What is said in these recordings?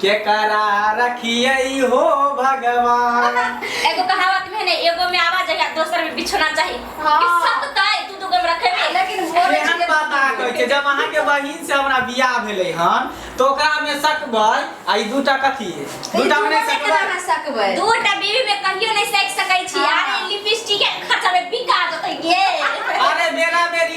केकरा रखियै हो भगवान एगो कहावत में है ना एगो में आवाज है दोसर में बिछोना चाहिए हाँ। ई सब तय दू दू गो में रखे में लेकिन वो से हम पता कहै छै जब अहाँ के बहिन से हमरा बियाह भेलै हन तो ओकरा में सकबै आ ई दूटा कथी है दूटा में नहीं सकबै ना सकबै दू टा बीवी में कहियो नहीं सेक सकै छी हाँ। अरे लिपस्टिक के खचा में बिका जतै गे अरे बेरा बेरी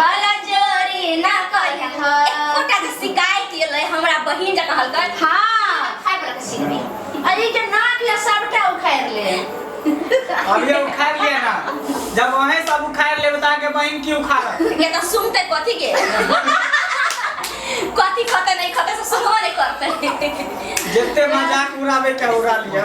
बाला चोरी ना करिया ह एकोटा जे शिकायत एलै हमरा बहिन जकाँ हल्का हां खाय वाला के सीन में अरे के नाक या सबटा उखाड़ ले अभी उखाड़ लिया ना जब वहीं सब उखाड़ ले बता के बहन की उखाड़ ये तो सुनते कथी के कथी खते नहीं खते से सुनबो नहीं करते जते मजाक उड़ावे के उड़ा लिया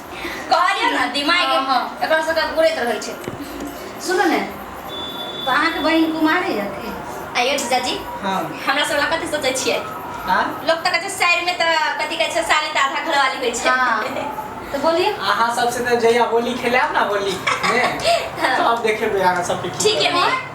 कहलियौ ने दिमाग हँ, हँ। एकरा सबके उड़ैत रहै छै सुनू ने तऽ अहाँके बहिन कुमारे यऽ की आइयो जीजाजी हँ हमरा सब लए कथी सोचै छियै आ लोक तऽ कहै छै साइड मे तऽ कथी कहै छै साली तऽ आधा घरवाली होइ छै हाँ तो बोलिए अहाँ सबसे तऽ जहिया होली खेलायब ने होली मे तब देखेबै अहाँ सबके की ठीक है करब। मैं